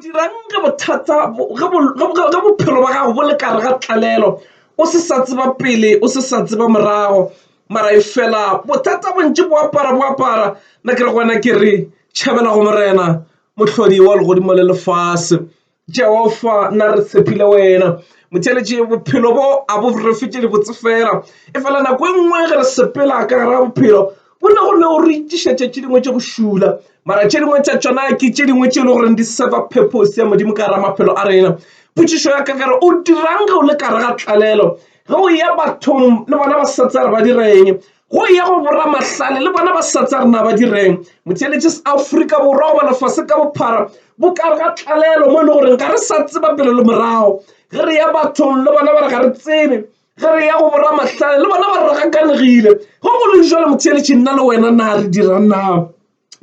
Dirang ge bothata ge bophelo bja gago bo le ka gare ga tlalelo o se sa tseba pele o se sa tseba morago mara e fela bothata bontši bo apara bo apara nna ke re go wena ke re tšhabela go Morena mohlodi wa legodimo le lefase. Jehofa nna re tshepile wena motheeletši bophelo bo a bo re fe tše di botse fela e fela nako e nngwe ge re sepela ka gare ga bophelo Go ne go le o re tišetša tše dingwe tša go šula, mara tše dingwe tša tšona ke tše dingwe tše e le gore di serva purpose ya Modimo ka gare maphelo a rena. Potšišo ya ka ke re, o dirang ge o le ka gare ga tlalelo? Ge o ya bathong le bona ba sa tsaya re ba direng? Go ya go boramahlale le bona ba sa tsaya re na ba direng? Motheeletše se Afrika Borwa goba lefase ka bophara bo ka gare ga tlalelo mo e le gore ga re sa tseba pele le morago. Ge re ya bathong le bona ba re ga re tsebe. Ge re ya go boramahlale, le bona ba ragakanegile. Go go le jalo, motheeletši, nna le wena na re dira na?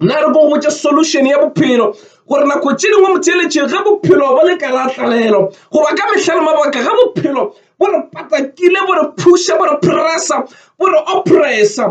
Na re ko gotse solution ya bophelo gore nako tše dingwe motheeletši ge bophelo bo le ka la tlalelo goba ka mehla le mabaka ge bophelo bo re patakile bo re phuša bo re pressa bo re oppressa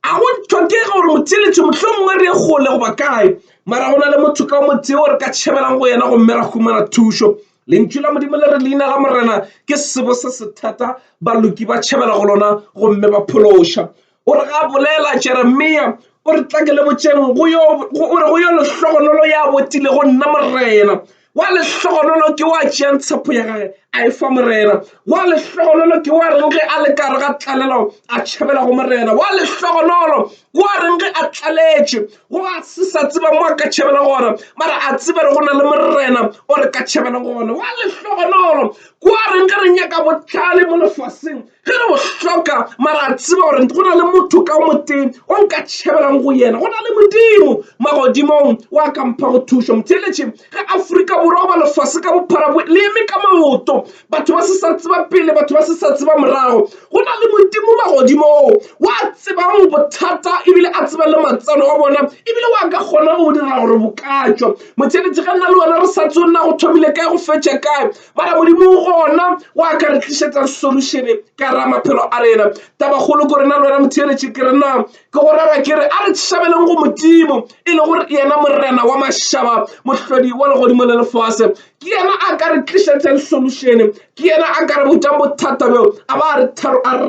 a go tlhokege gore motheeletši mohlho mongwe re ye kgole goba kae mara go na le motho ka o motee o re ka tšhebelang go yena gomme ra humana thušo Lentšu la Modimo le re leina la Morena ke sebo se se thata, baloki ba tšhabela go lona gomme ba phološa. O re ga bolela Jeremia o re tla ke le botšeng o re go yo lehlogonolo ya botile go nna Morena wa lehlogonolo ke wa tšeang tshepo ya gage a e fa Morena wa lehlogonolo ke wa reng ge a le kare ga tlalelo a tšhabela go Morena wa lehlogonolo ke wa reng ge a tlaletše Go a se sa tseba mo a ka tšhabela gona, mara a tseba re go na le Morena o re ka tšhabela gona. Wa lehlogonolo kwa reng ge re nyaka botlhale mo lefaseng, ge re bo hloka, mara a tseba gore go na le motho ka o motee o nka tšhabelang go yena. Go na le Modimo magodimong wa ka mphago thušo. Motheeletši ge Afrika Borwa goba lefase ka bophara le eme ka maoto, batho ba se sa tseba pele batho ba se sa tseba morago go na le modimo magodimo oo wa tsebang bothata ebile a tseba le matsalo a bona ebile wa ka kgona go dira gore bokatšwa motšheletše ga nna le wena re sa tse o nna go thomile kae go fetša kae mara modimo gona wa ka re tlišetsa solušene ka ra maphelo a rena tabakgolo ko rena le wena motšheletše ke re na ke go rera ke re a re tšhabeleng go modimo e le gore yena morena wa mašaba mohlodi wa legodimo le lefase Ke yena a ka re tlišetšang solušene. Ke yena a ka re botšang bothata bjo a ba a re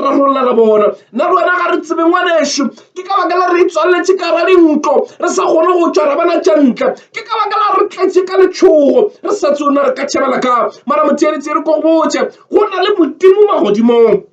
rarollela bona. Nna le wena ga re tsebe ngwanešu. Ke ka baka la re itswaletše ka ra dintlo, re sa kgone go tšwa ra bona tša ntle. Ke ka baka la re tletše ka letšhogo, re sa tsebe na re ka tšhabela ka'ng. Mara motheeletši, re ko go botše, go na le Modimo magodimong.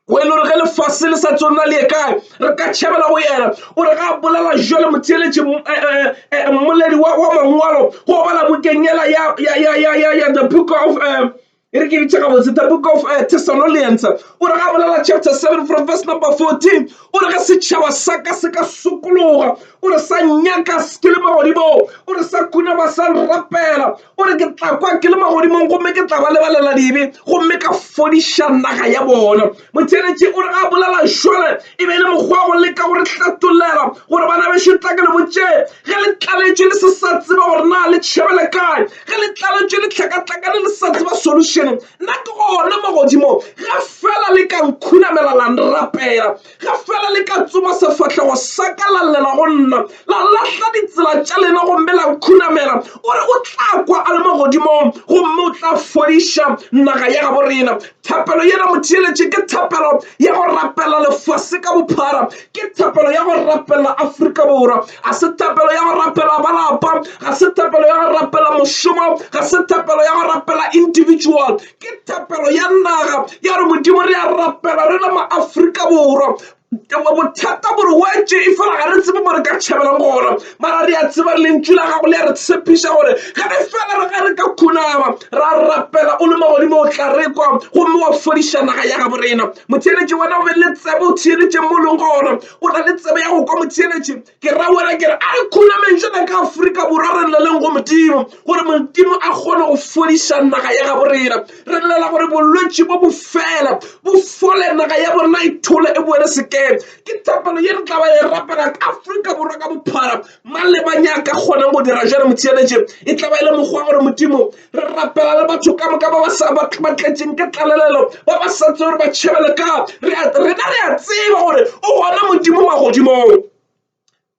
o e le gore ge lefase le sa tsona le ye kae re ka tšhabela go yena o re ga bolela jale motheeletše eh, eh, eh, mmoledi wa mangwalo go bala bukeng yela ya the book of um e re ke ditšha gabotse the book of uh, thessalonians o re ga bolela chapter 7 from verse number 14 o re ge setšhaba sa ka se ka sokologa o re sa nyaka ke le magodimo o re sa khunama sa rapela o re ke tla kwa ke le magodimong gomme ke tla ba lebalela dibe gomme ka fodiša naga ya bona motheletše o re ga a bolela šole e be e le mokgwa go leka go re hlatolela gore bana bešo tla ke le botše ge le tlaletšwe le se sa tseba gore na le tšhebele kae ge le tlaletšwe le tlhakatlakane le sa tseba solution nna ke gona magodimo ge fela le ka nkhunamela la nrapela Ge fela le ka tsoma sefahlego sa ka la llela go nna, la lahla ditsela tša lena gomme la nkhunamela, o re o tla kwa a le mo godimong gomme o tla fodiša naga ya gabo rena. Thapelo yela motheeletše ke thapelo ya go rapela lefase ka bophara, ke thapelo ya go rapela Afrika Borwa. Ga se thapelo ya go rapela ba lapa, ga se thapelo ya go rapela mošomo, ga se thapelo ya go rapela individual, Ke thapelo ya naga ya re Modimo re a rapela re le maAfrika Borwa bothata bore wetse e fela ga re tsebe mo re ka tšhabeleng gona mara re a tseba lentšu la gago le ya re tshepiša gore ge re fela re ga re ka khunama ra rapela o le magodimo o tla re kwa gomme wa fodiša naga ya gabo rena motheeletši wena o be le tsebe o theeletšeng mo leng gona o na le tsebe ya go kwa motheeletši Ke ra wena ke re a re khunameng jana ka Afrika Borwa re lleleng go Modimo gore Modimo a kgone go fodiša naga ya gabo rena. Re llela gore bolwetši bo bo fele, bo fole, naga ya borena e thole e boele sekeng. Ke thapelo ye re tla ba e rapela ka Afrika Borwa ka bophara. Mang le mang ya ka kgonang go dira jalo motsianetše, e tla ba e le mokgwa gore Modimo re rapela le batho ka moka ba ba sa ba tletšeng ke tlalelelo ba ba sa tse gore ba tšhebele ka rena re a tseba gore o gona modimo magodimong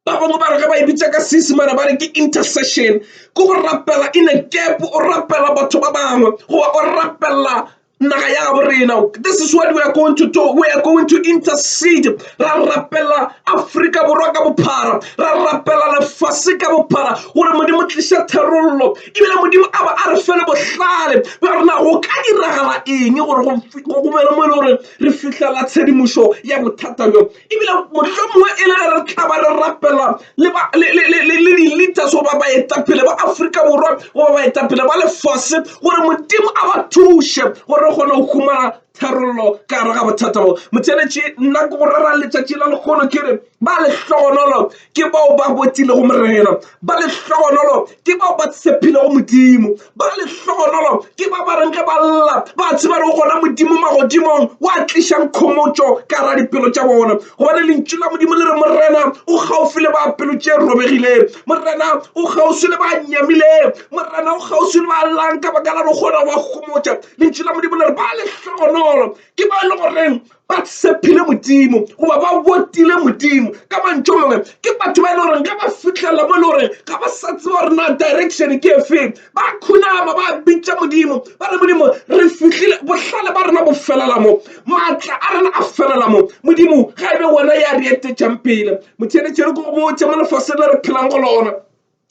ba bangwe ba re ge ba e bitsa ka seesemane ba re ke intercession ke go rapela in a gap o rapela batho ba bangwe goba o rapela naga ya gabo rena this is what we are going to do we are going to intercede ra rapela afrika borwa ka bophara ra rapela lefase ka bophara gore modimo tliša tharollo ebile modimo a ba a re fele bohlale ba rena go ka diragala eng gore go bele mo e le gore re fitlhela tshedimošo ya bothata bjo Ebile mohlomongwe e le ge re tla ba re rapela le di-leaders goba baetapele ba Afrika Borwa goba baetapele ba lefase gore Modimo a ba thuše gore re kgone go humana tharollo ka gare ga bothata bo. Motheletši nna ke go rera letšatši la lekgono ke re ba lehlogonolo ke bao ba botilego Morena, ba lehlogonolo Ke bao ba tshepilego Modimo. Ba lehlohonolo ke ba ba reng ge ba lla ba tseba le go gona Modimo magodimong wa tlišang khomotšo ka ra dipelo tša bona. Gobane Lentšu la Modimo le re, Morena o kgaufsi le ba pelo tše robegilego. Morena o kgauswi le ba nyamilego. Morena o kgauswi le ba llang ka baka la go kgona go ba gomotša. Lentšu la Modimo le re, Ba lehlohonolo ke bao e le goreng ba tshepile modimo goba ba botile modimo ka mantšo mangwe ke batho ba e le goreng ga ba fitlhelela mo e le goreng ga ba sa tseba gore na direction ke efeng ba khunama ba bitša modimo ba re modimo re fitlhile bohlale ba rena bo felela mo maatla a rena a felela mo modimo ga e be wena ya re etetšang pele motšheletšhere ko go botse mo lefaseng le re phelang go lona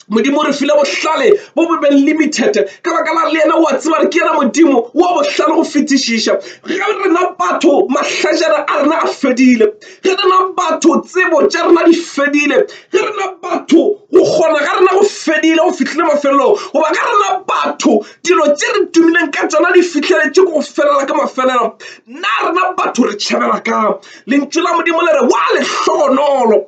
Modimo o re file bohlale bo bo be limited ka baka la le yena o a tseba gore ke yena modimo wa bohlale go fetišiša ge rena batho mahlajana a rena a fedile ge rena batho tsebo tša rena di fedile ge rena batho go kgona ga rena go fedile go fihlile mafelelong goba ge rena batho dilo tše re tumileng ka tsona di fihleletše go felela ka mafelelo nna rena batho re tšhabela ka lentšu la modimo le re wa lehlogonolo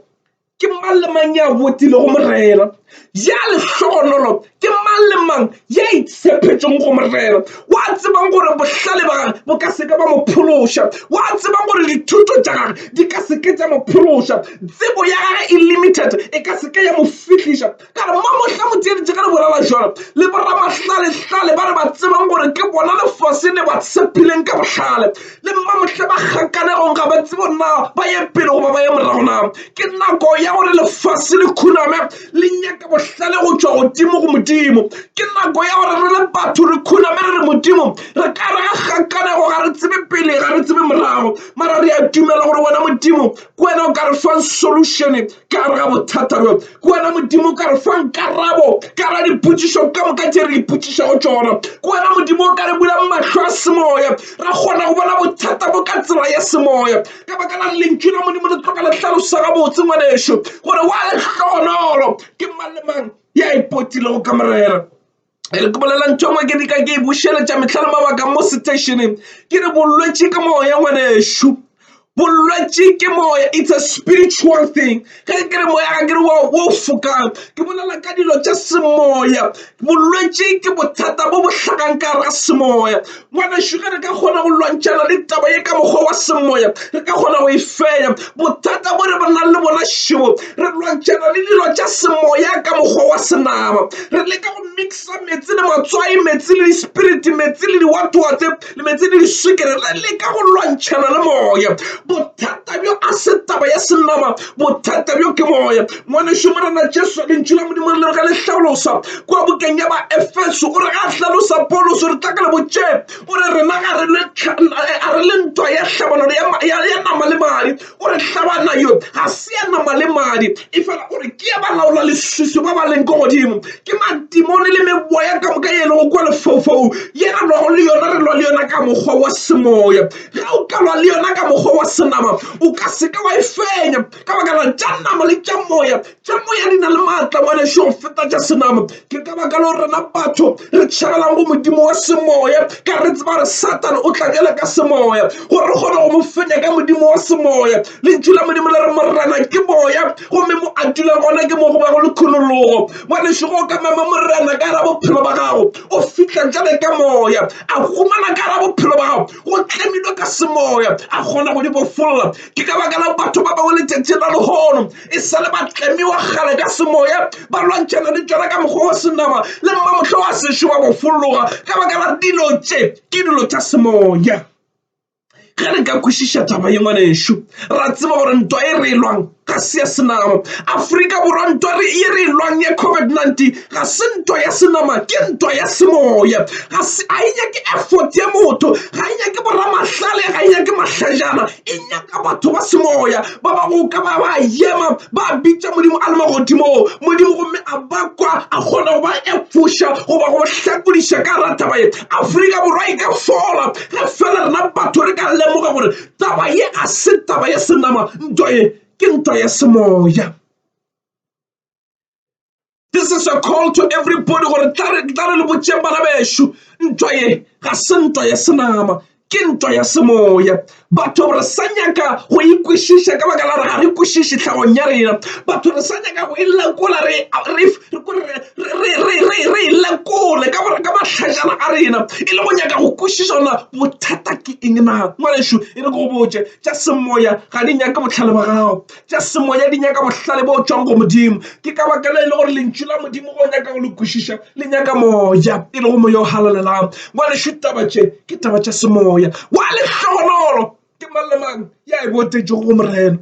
ke mang le mang ya botilego morena ya lehlogonolo ke mang le mang ya itshephetšong go morena wa tsebang gore bohlale ba gage bo ka seke ba mo phološa wa tsebang gore dithuto tša gage di ka seke tša mo phološa tsebo ya gage e limited e ka seke ya mo fihliša ka re mmamohla motsieditše ge re bolela jalo le boramahlalehla ba re ba tsebang gore ke bona lefase le ba tshepileng ka bohlale le mmamohla ba kgakanegong ga ba tsebo na ba ye pele goba ba ye morago na ke nako ya gore lefase le khuname le nyaka bohlale go tšwa godimo go modimo ke nako ya gore re le batho re khuname re re modimo re ka re ga kgakanego ga re tsebe pele ga re tsebe morago mara re a dumela gore wena modimo ke wena o ka re fang solutione ka gare ga bothata bjo ke wena modimo ka re fang karabo ka ra dipotšišo ka moka tše re ipotšišago tšona ke wena modimo o ka re bulang mahlo a semoya ra kgona go bona bothata bo ka tsela ya semoya ka baka la lentšu la modimo le tloka le tlhalosa gabotse ngwanešo gore wa lehlohonolo ke mang le mang ya ipotilego ka morena e re ke bolela ntho engwe ke dika ke e bušeletša mehla le mabaka mo stationeng ke re bolwetši ke moo ya ngwanešu bolwetši ke moya it's a spiritual thing ge ke re moya ga ke re wa o fokang ke bolela ka dilo tša semoya bolwetši ke bothata bo bo hlagang ka gare ga semoya Ngwanešu, ge re ka kgona go lwantšhana le taba ye ka mokgwa wa semoya, re ka kgona go e fenya. Bothata bo re ba nang le bona šebo, re lwantšhana le dilo tša semoya ka mokgwa wa senama. Re leka go mixa metsi le matswai, metsi le dispiriti, metsi le diwatwatse, le metsi le diswikere. Re leka go lwantšhana le moya. Bothata bjo a se taba ya senama, bothata bjo ke moya. Ngwanešu, Morena Jesu, Lentšu la Modimo re le ge le hlalosa kua bukeng ya ba Efeso, o re ga a hlalosa Paulos, o re tla ka le botše, o re rena ga re le a re le ntwa ya hlabanano ya, ya, ya nama le madi, o re hlabana yo ga se ya nama le madi, efela o re ke ya balaola leswiswi ba ba leng ko godimo, ke madimoni le meboya ka moka ye e lego kua lefaufaung, ye re lwago le yona, re lwa le yona ka mokgwa wa semoya. Ge o ka lwa le yona ka mokgwa wa senama, o ka se ke wa e fenya. ka baka la tša nama le tša moya tša moya di na le maatla ngwaneso go feta tša senama ke ka baka leo rena batho re tšhabelang go modimo wa semoya ka re tseba gore satane o tla bjale ka semoya gore re kgone go mo fenya ka modimo wa semoya lentšu la modimo le re morena ke moya gomme mo a dulang gona ke mo go ba go le kgonologo ngwaneso go ka mema morena ka ra bophelo ba gago o fitlha jale ka moya a humana ka ra bophelo ba gago go tlemilwe ka semoya a kgona go di bofolola ke ka baka la batho ba bangwe letšatši la lehono e sa le ba tlemiwa gale ka semoya ba lwantšhana le tšona ka mokgwa wa senama le mma motlho wa sešo ba go folloga ka baka la dilo tše ke dilo tša semoya ge re ka kwešiša taba ye ngwanešu ra tseba gore ntwa e re e lwang ga se ya senama aforika borwa ntwa ye re e lwang ya covid-19 ga se ntwa ya senama ke ntwa ya semoya ga se a e nyake effort ya motho ga e nyake boramahlale ga e nyake mahlajana e nyaka batho ba semoya ba ba go ka ba ba yema ba bitša modimo a le magodimong modimo gomme a bakwa a kgona go ba efoša goba go hlakodiša ka rataba ye afrika borwa e ka fola ge fela rena batho re ka lemoga gore taba ye ga se taba ya senama ntwa ye ke ntwa ya semoya this is a call to everybody gore tla re le botšeng bana bešo ntwa ye ga se ntwa ya senama ke ntwa ya semoya batho re sa nyaka go ikwešiša ka baka la re ga re kwešiše tlhagong ya rena batho re sa nyaka go e lekola re e lekole ka gore ka mahlašana a rena e le go nyaka go kwešiša gona bothata ke eng na ngwanešu e re go botse tša semoya ga di nyake botlhale ba gago tša semoya di nyaka bohlale bo tšwang go Modimo. Ke ka baka le e le gore lentšu la Modimo go nyaka go le kwešiša le nyaka moya, e lego moya o halalelang. Ngwanešu, taba tše ke taba tša semoya. Wa lehlogonolo ke mang le mang ya e botetšego go Morena.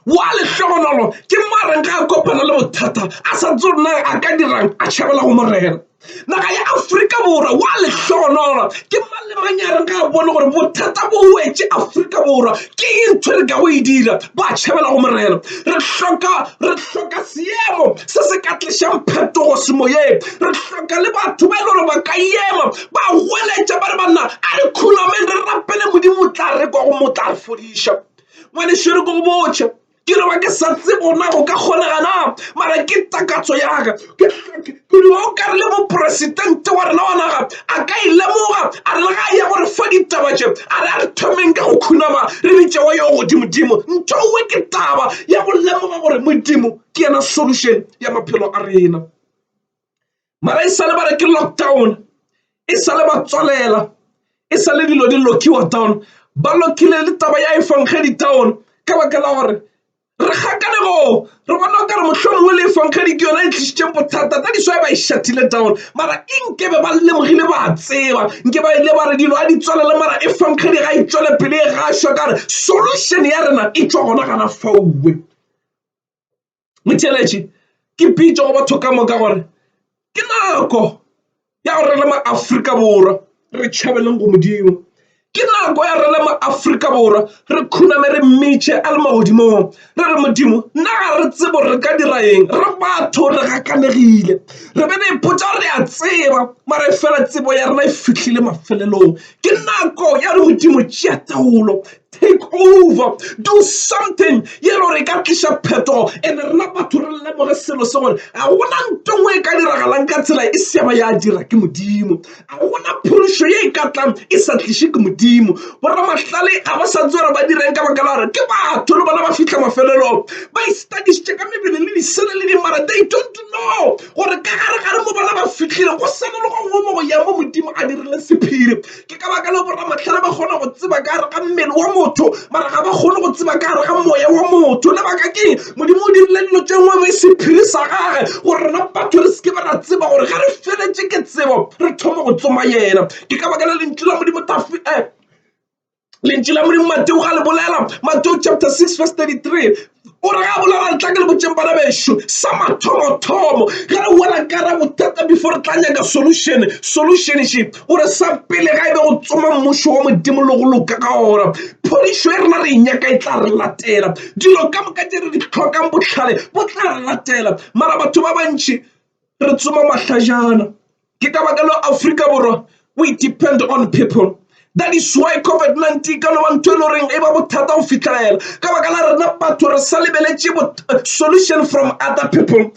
Wa lehlogonolo ke mareng ga a kopana le bothata a sa tsone a ka dirang a tšhabela go Morena. Naga ya Afrika Borwa wa lehlohonolo ke mang le mang ya reng ga a bone gore bothata bo wetše Afrika Borwa ke e ntho re ka go e dira ba tšhabela go morena re hloka re hloka seemo se se ka tlišang phetogo semoyeng re hloka le batho ba e le gore ba ka ema ba goletša ba re banna a re khunameng re rapele modimo o tla re kwa go mo tla re fodiša ngwanešo re ko go botšha ke no ba ke sa tsebo na go ka kgonega na mara ke takatso yaga ke no o kare le moporesitente wa rena wa naga a ka e lemoga a re le ga ya gore fa ditaba tše a re a re thomeng ka go khunama re bitše wa yo godimodimo ntho nngwe ke taba ya go lemoga gore modimo ke yena solution ya maphelo a rena mara e sale ba re ke lockdown e sale ba tswalela e sale dilo di lokiwa down ba lokile le taba ya efangedi down ka baka la gore re gakane go re bona o ka re motlho mongwe le efangedi ke yona e tlisitseng bothata tsa diswae ba e shathile down mara e nke be ba lemogile ba tseba nke ba ile ba re dilo a di tswalele mara efangedi ga e tswele pele e gašwa ka re solution ya rena e tswa gona gana fauwe Motheeletši, ke pitša go batho ka moka gore ke nako ya gore re le maAfrika Borwa re tšhabeleng go Modimo. Ke nako ya gore re le maAfrika Borwa re khuname re mmitše a le magodimong re re, Modimo nna ga re tsebe gore re ka dira eng, re batho re gakanegile, re be re ipotša gore re a tseba mara efela tsebo ya rena e fihlile mafelelong. Ke nako ya gore Modimo tšea taolo, take over, do something ye lo re ka tliša phetogo and rena batho re lemoge selo se gore ga gona ntongwe e ka diragalang ka tsela e seaba ya dira ke modimo ga gona phološo ye e ka tlang e sa tliše ke modimo boramahlale ga ba sa tsere ba direng ka baka la gore ke batho le bona ba fitlha mafelelong ba istadisitše ka mebele le disele le dimara they don't know gore ka gare gare mo bona ba fitlhile go sena le go ngomo go ya mo modimo a dirile sephiri ke ka baka leo boramahlale ba kgona go tseba ka gare ga mmele wa motho mara ga ba kgone go tseba ka gare ga moya wa motho lebaka keng modimo o dirile dilo tše ngwe e sephiri sa gage gore rena batho re seke ba ra tseba gore ga re feletše ke tsebo re thoma go tsoma yena ke ka baka la lentšu la modimo tafi um lentšu la modimo mateo ga le bolela mateo chapter 6 verse 33 o re ga bolela re tla ke le botseng bana bešo sa mathomothomo ge re wela ka ra bothata before re tla nyaka solution solution she o re sa pele ga e be go tsoma mmušo wa modimo le go loka ka ona phodišo e rena re e nyaka e tla re latela dilo ka moka tse re di tlhokang botlhale bo tla re latela mara batho ba bantši re tsoma mahlajana Ke ka baka leo Afrika Borwa we depend on people that is why COVID-19 ka no ba ntho e le goreng e ba bothata go fitlhelela ka baka la rena batho re sa lebeletše uh, solution from other people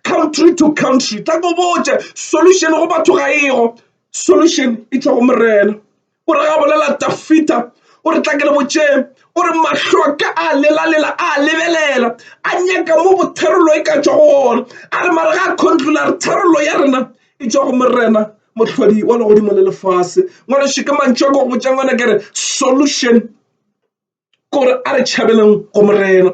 country to country tla ko botša solution go batho ga ego solution e tšwa go morena O re ga bolela Dafita o re tla ke le botšeng o re mahlo a ka a lelalela a lebelela a nyaka mo botherolo e ka tšwago gona a re mare ga a controla re therolo ya rena e tšwa go morena mohlodi wa legodimo le lefase ngwana šeke mantšho a ko go botša ngwana ke re solution gore a re tšhabeleng go Morena.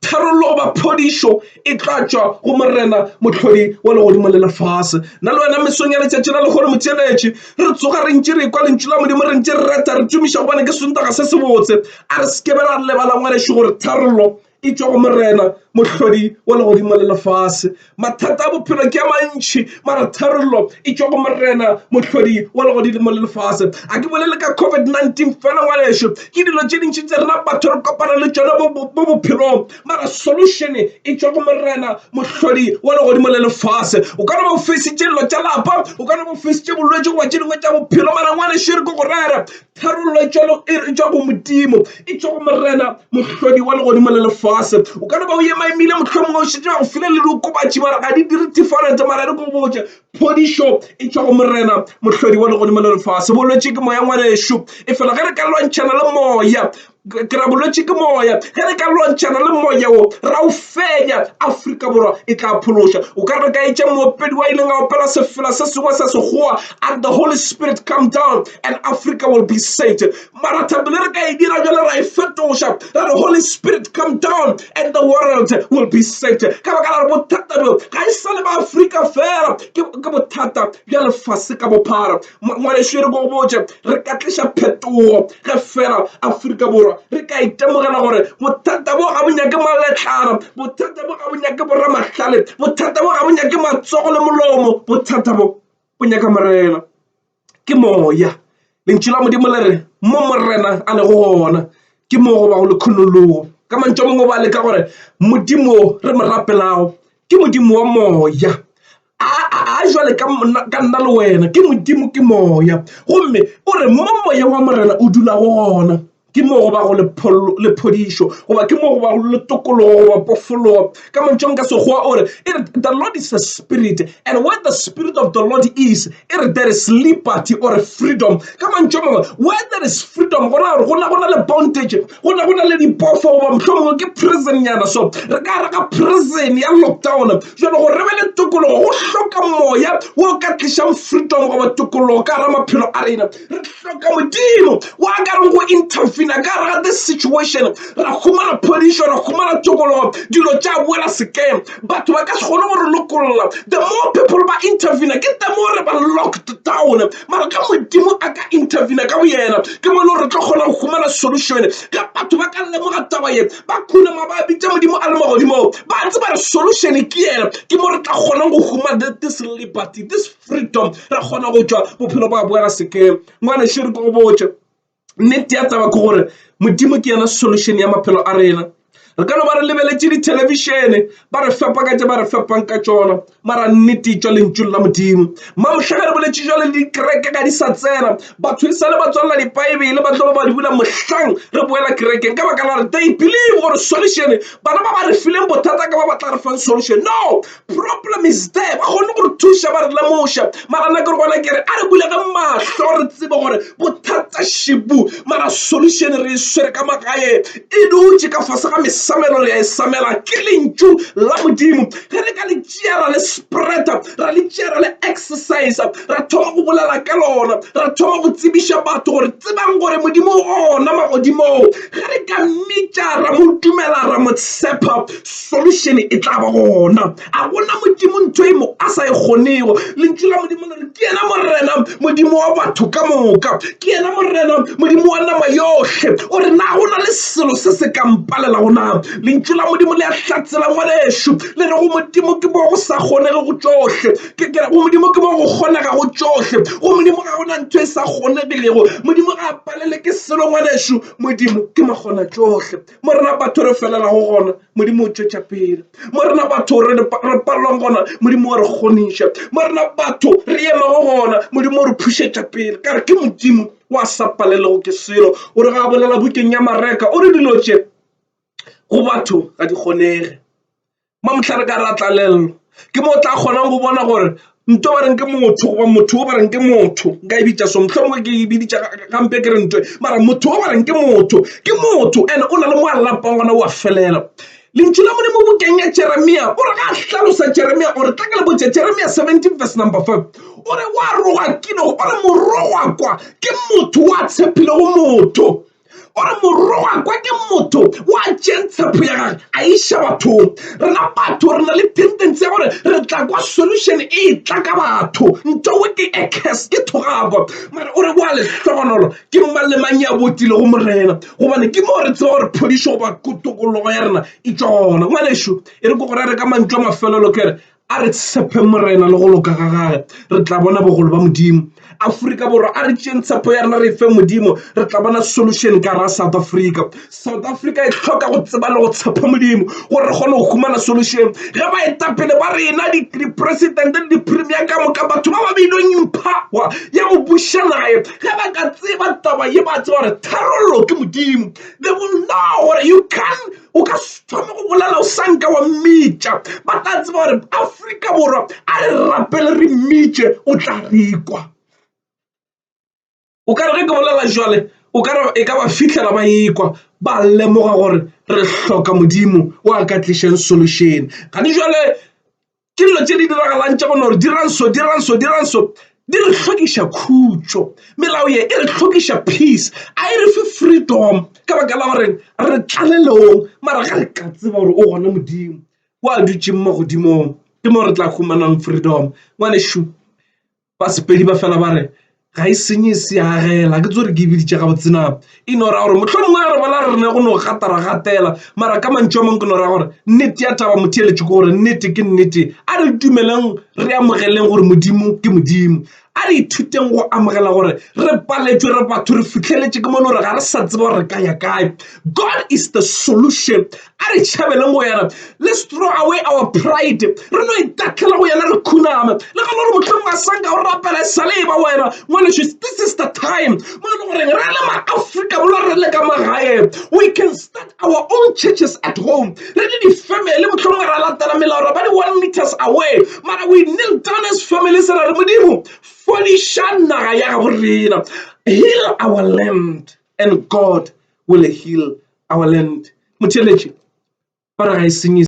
Tharollo goba phodišo e tla tšwa go Morena mohlodi wa legodimo le lefase. Nna le wena mesong ya letšatši la lekgolo motšeletši re tsoga re ntše re kwa lentšu la Modimo re ntše re reta re tumiša gobane ke sontaga se sebotse. A re se ke be ra lebala ngwanešu gore tharollo Etšwa go Morena, Mohlodi wa legodimo le lefase. Mathata a bophelo ke a mantši, mara tharollo e tšwa go Morena, Mohlodi wa legodimo le lefase. A ke bolele ka COVID-19 fela, ngwanešu. Ke dilo tše dintši tse rena batho re kopana le tšona mo bophelong, mara solution e tšwa go Morena, Mohlodi wa legodimo le lefase. O ka no ba o feisitše dilo tša lapa, o ka no ba o feisitše bolwetši goba tše dingwe tša bophelo, mara ngwanešu e re ke go rere, Tharollo e tšwa e re tšwa go Modimo, e tšwa go Morena mohlodi wa legodimo le lefase. O ka no ba o ema emile mohlomongwe o šetše go file le diokobatši mara ga di dire different mara re ko botše phodišo e tšwa go Morena mohlodi wa legodimo le lefase. Bolwetši ke moya ngwanešu e fela ge re ka lwantšhana le moya ke ra bolwetši ke moya ge re ka lwantšhana le moya wo ra o fenya afrika borwa e tla phološa o ka re ka etša moopedi wa ileng a opela sefela se sengwe sa sekgowa and the holy spirit come down and africa will be saved mara thabile re ka e dira jale ra e fetoša ra re holy spirit come down and the world will be saved ka baka la re bothata bjo ga e sa le ba afrika fela ke bothata bja lefase ka bophara Ngwanešu, e re ko botše, re ka tliša phetogo ge fela Afrika Borwa re ka itemogela gore bothata bo ga bo nyake maletlana, bothata bo ga bo nyake boramahlale, bothata bo ga bo nyake matsogo le molomo, bothata bo bo nyaka Morena. Ke moya. Lentšu la Modimo le re mo Morena a lego gona ke mo go bago le kgonologo. Ka mantšu a mangwe ba leka gore Modimo re mo rapelago ke Modimo wa moya. a jwale ka nna ka nna le wena ke modimo ke moya gomme o re mo moya wa morena o dula go gona ke mo go ba go le phodišo goba ke mo go ba le tokologo goba pofologo ka mantšong ka sekgowa o re e re the lord is a spirit and where the spirit of the lord is e re there is liberty or freedom ka mantšong mangwe where there is freedom gona gore gona gona le bondage go ne go na le dipofo goba mohlomongwe ke prison nyana so re ka re ga prison ya lockdown jalo gore re be le tokologo go hloka moya wo ka tlišang freedom goba tokologo ka ra maphelo a rena re hloka modimo wa ka reng go intervena ka ra the situation ra humana phodišo ra humana tokologo dilo tša boela sekeng batho ba ka se kgone go re lokolola the more people ba intervena ke the more re ba locked down mara ka modimo a ka intervena ka boyena ke mo e le gore re tlo kgona go humana solution ka batho ba ka lemoga taba ye ba khunama ba bitsa modimo a le magodimo ba tseba re solution ke yena ke mo re tla kgonang go humana this liberty this freedom ra kgona go tšwa bophelo ba boela sekeng ngwane šere ko go botša nnete ya taba ke gore modimo ke yena solution ya maphelo a rena re ka no ba re lebeletše dithelebišene ba re fepa ka tše ba re fepang ka tšona mara nnete tšwa lentšu la modimo mamohla ge re boletše jwa le dikereke ga di sa tsena batho e sa le ba tswalela dipaebele ba tlo ba ba di bula mohlang re boela kerekeng ka baka la re they believe gore solution bana ba ba re fileng bothata ka ba ba tla re fang solution no Problem is there ba kgone go re thuša ba re lemoša mara nna ke re gona kere a re bulege mahlo re tsebe gore bothata šibu mara solution re e swere ka magae e dutše ka fase ga mesamelo re ya e samela ke lentšu la modimo ge re ka le tšea ra le spreada ra le tšea ra le exercise ra thoma go bolela ka lona ra thoma go tsebiša batho gore tsebang gore modimo ona magodimong ge re ka mmitša ra mo dumela ra mo tshepa solution e tla ba gona a gona modimo ntho e mo a sa e kgonego lentšu la modimo le re ke yena morena modimo wa batho ka moka ke yena morena modimo wa nama yohle o re na go na le selo se se ka mpalela gona lentšu la modimo le a hlatsela ngwanešu le re go modimo ke bo go sa kgonege go tsohle ke kere go modimo ke bo go kgonega go tsohle go modimo ga gona ntho e sa kgonegilego modimo ga a palele ke selo ngwanešu modimo ke makgona tsohle mo rena batho re felelago gona modimo o tšwetša pele mo rena batho re palelwang gona modimo o re kgoniša mo rena batho re emago gona modimo o re phušetša pele ka re ke modimo wa sa palelego ke selo o re ga bolela bukeng ya mareka o re dilo tše go batho ga di kgonege Mma mohla re ka ra tlalelelwa ke mo o tla kgonang go bona gore nto ba reng ke motho goba motho o ba reng ke motho nka e bitša so mohlomongwe ke e biditša gampe ke re nto mara motho o ba reng ke motho ke motho and o na le mo a lapang gona o a felela lentšu la modimo bokeng ya jeremia o re ga a hlalosa jeremia o re tla ke le botša jeremia 17 verse number 5 o re wa roga kino o re morogwa kwa ke motho wa tshepilego motho gore morongwa kwa ke motho wa tšeng tshepo ya gage a iša batho rena batho re na le tendency ya gore re tla kwa solution e tla ka batho nto we ke acus ke thogako mare o re boa lehlogonolo ke mang le mang ya botile go morena gobane ke moo re tseba gore phodišo goba kotokologo ya rena e tswa gona ngwanešu e re ko gore re ka mantšu a mafelelo kere A re tshepeng Morena le go loka ga gage, re tla bona bogolo ba Modimo. Afrika Borwa, a re tšeng tshepo ya rena re e feng Modimo, re tla bona solution ka ra South Africa. South Africa e hloka go tseba le go tshepa Modimo gore re kgone go humana solution. Ge baetapele ba rena, dipresidente le dipremier ka moka, batho ba ba beilweng phawa ya go buša naye, ge ba ka tseba taba ye, ba tseba gore tharollo ke Modimo. They will know gore you can o ka thoma go bolela o sanka wa mmitša ba tla tseba gore aforika borwa a re rapele re mmitše o tla rekwa o ka re ge ke bolela jale o ka re e ka ba fitlhela ba ekwa ba lemoga gore re hloka modimo o a ka tlišeng solution gane jale ke dilo tse di diragalang tša gona gore diranso diranso diranso di re tlhokiša khutšo melao ye e re tlhokiša peace a e re fe freedom ka baka la goreng re tlalelong mara ga re ka tseba gore o gona modimo o a dutšeng mo godimong ke mo re tla humanang freedom ngwanešu Ba Sepedi ba fela ba re, Ga e senye e seagela. Ke tso re ke biditše ga botsena e no ra gore mohlomongwe ya re bona re ne go no gatara gatela mara ka mantšu a mangwe ke no ra gore nnete ya taba motho eletše ke gore nnete ke nnete a re dumeleng re amogeleng gore modimo ke modimo a re ithuteng go amogela gore re paletšwe re batho re fitlheletše ke mone gore ga re sa tseba gore re ka ya kae god is the solution A re tšhabeleng go yena. Let's throw away our pride. Re no itatlhela go yena re khuname. Le gana gore mohlomong a sanka o rapela e sale e ba wena. Ngwaneso, this is the time. Mo e le gore re le ma-Afrika Borwa re le ka magae. We can start our own churches at home. Re le di-family mohlomong ra latela melao ra ba di one meters away. Mara we kneel down as families ra re Modimo fodiša naga ya gabo rena. Heal our land and God will heal our land. Motheeletši, ba re ga e senye.